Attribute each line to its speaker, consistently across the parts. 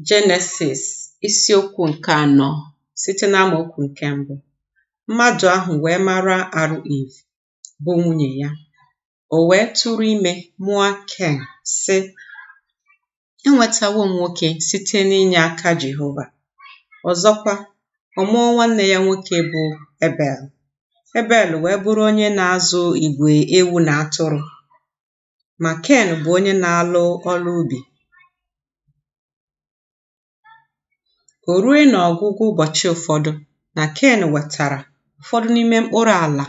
Speaker 1: Jenesis isiokwu nke anọ site n'amaokwu nke mbụ mmadụ ahụ wee mara arụ Iv bụ nwunye ya o wee tụrụ ime mụa Ken sị enwetawo m nwoke site n'inye aka Jehova ọzọkwa ọ mụọ nwanne ya nwoke bụ Ebel Ebel wee bụrụ onye na-azụ igwe ewu na atụrụ ma Ken bụ onye na-alụ ọlụ ubi. O rue n'ọgwụgwụ ụbọchị ụfọdụ na Ken wetara ụfọdụ n'ime mkpụrụ ala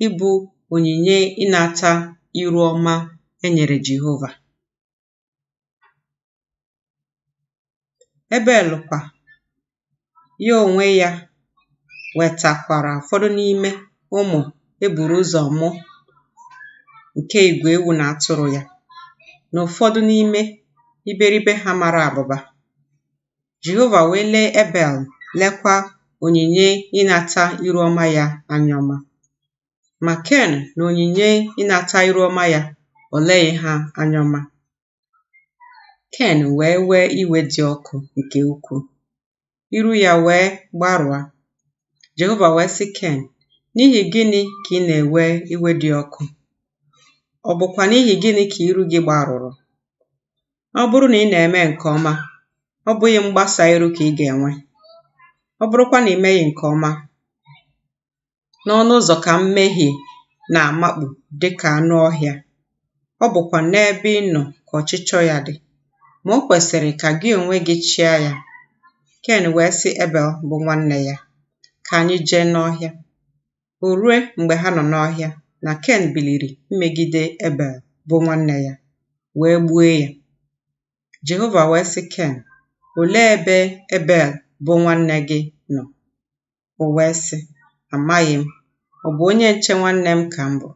Speaker 1: ịbụ onyinye ịnata iru ọma e nyere Jehova. Ebel kwa, ya onwe ya, wetakwara ụfọdụ n'ime ụmụ e buru ụzọ mụ nke igwe ewu na atụrụ ya, na ụfọdụ n'ime iberibe ha mara abụba. Jehova wee lee Ebel, lekwa onyinye ịnata iru ọma ya anya ọma. Ma Ken na onyinye ịnata iru ọma ya, o leghị ha anya ọma. Ken wee wee iwe dị ọkụ nke ukwuu, iru ya wee gbarụa. Jehova wee sị Ken, N'ihi gịnị ka ị na-ewe iwe dị ọkụ? Ọ bụkwa n'ihi gịnị ka iru gị gbarụrụ? Ọ bụrụ na ị na-eme nke ọma, ọ bụghị mgbasa iru ka ị ga-enwe. Ọ bụrụkwa na ị meghị nke ọma, n'ọnụ ụzọ ka mmehie na-amakpu dị ka anụ ọhịa. Ọ bụkwa n'ebe ị nọ ka ọchịchọ ya dị. Ma o kwesịrị ka gị onwe gị chịa ya. Ken wee sị Ebel bụ nwanne ya, Ka anyị jee n'ọhịa. O rue mgbe ha nọ n'ọhịa na Ken biliri imegide Ebel bụ nwanne ya, wee gbuo ya. Jehova wee sị Ken, Olee ebe Ebel bụ nwanne gị nọ? O wee sị, Amaghị m. Ọ bụ onye nche nwanne m ka m bụ.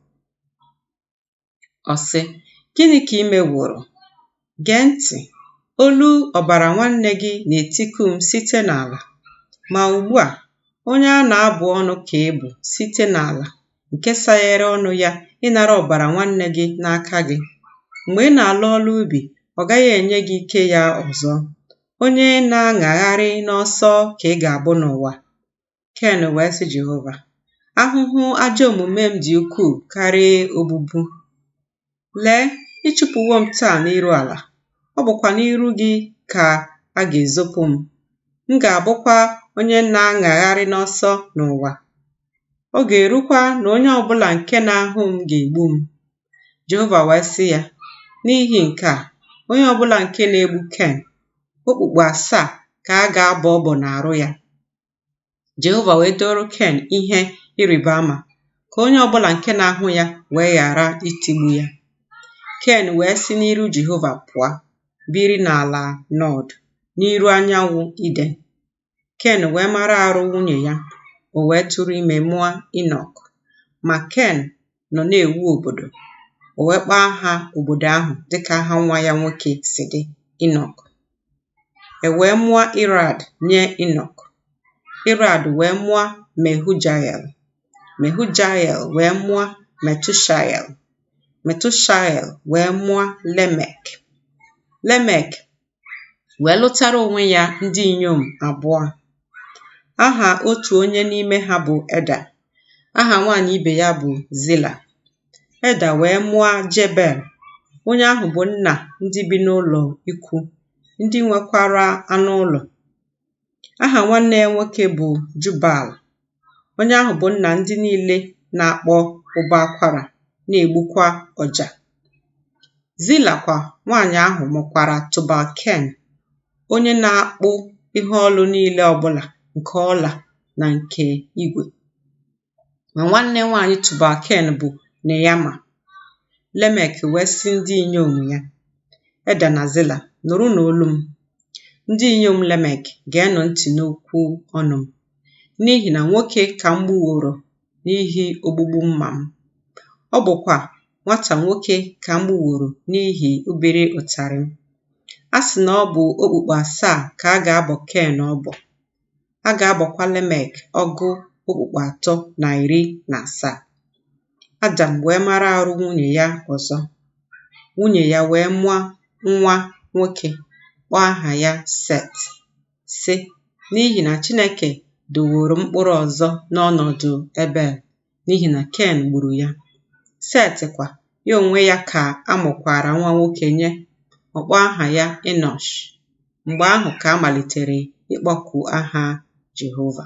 Speaker 1: Ọ sị, Gịnị ka i meworo? Gee ntị! Olu ọbara nwanne gị na-etiku m site n'ala. Ma ugbu a, onye a na-abụ ọnụ ka ị bụ site n'ala, nke saghere ọnụ ya ịnara ọbara nwanne gị n'aka gị. Mgbe ị na-alụ ọlụ ubi, ọ gaghị enye gị ike ya ọzọ. Onye na-aṅagharị n'ọsọ ka ị ga-abụ n'ụwa. Ken wee sị Jehova, Ahụhụ ajọ omume m dị ukwuu karị obubu. Lee, ị chụpụwo m taa n'iru ala, ọ bụkwa n'iru gị ka a ga-ezopụ m. M ga-abụkwa onye na-aṅagharị n'ọsọ n'ụwa. Ọ ga-erukwa na onye ọ bụla nke na-ahụ m ga-egbu m. Jehova wee sị ya, N'ihi nke a, onye ọ bụla nke na-egbu Ken, okpukpu asaa ka a ga-abọ ọbọ n'arụ ya. Jehova wee dooro Ken ihe ịrịba ama ka onye ọ bụla nke na-ahụ ya wee ghara itigbu ya. Ken wee si n'iru Jehova pụọ, biri n'ala Nọd, n'iru anyanwụ Iden. Ken wee mara arụ nwunye ya, o wee tụrụ ime mụọ Inọk. Ma Ken nọ na-ewu obodo, o wee kpọọ aha obodo ahụ dịka aha nwa ya nwoke si dị, Inọk. E wee mụọ Irad nye Inọk. Irad wee mụọ Mehujael. Mehujael wee mụọ Metushael. Metushael wee mụọ Lemek. Lemek wee lụtara onwe ya ndị inyom abụọ aha otu onye n'ime ha bụ eda aha nwaanyị ibe ya bụ zila eda wee mụọ jebel onye ahụ bụ nna ndị bi n'ụlọ ikwu ndị nwekwara anụ ụlọ Aha nwanne ya nwoke bụ Jubal. Onye ahụ bụ nna ndị niile na-akpọ ụbọ akwara, na-egbukwa ọja. Zila kwa nwaanyị ahụ mụkwara Tubal Ken, onye na-akpụ ihe ọlụ niile ọbụla nke ọla na nke igwe. ma nwanne nwaanyị Tubalken bụ Neyama. Lemek wee sị ndị inyom ya, Eda na Zila, nụrụnụ olu m. Ndị inyom Lemek geenụ ntị n'okwu ọnụ m, n'ihi na nwoke ka m gbuworo n'ihi ogbugbu mma m. Ọ bụkwa nwata nwoke ka m gbuworo n'ihi obere ụtarị m. A sị na ọ bụ okpukpu asaa ka a ga-abọ Ken ọbọ, a ga-abọkwa Lemek ọgụ okpukpu atọ na iri na asaa. Adam wee mara arụ nwunye ya ọzọ, nwunye ya wee mụọ nwa nwoke, kpọọ aha ya Set, sị, N'ihi na Chineke edoworo m mkpụrụ ọzọ n'ọnọdụ Ebel, n'ihi na Ken gburu ya. Set kwa, ya onwe ya ka a mụkwara nwa nwoke nye, ọ kpọọ aha ya Enọsh. Mgbe ahụ ka a malitere ịkpọku aha Jehova.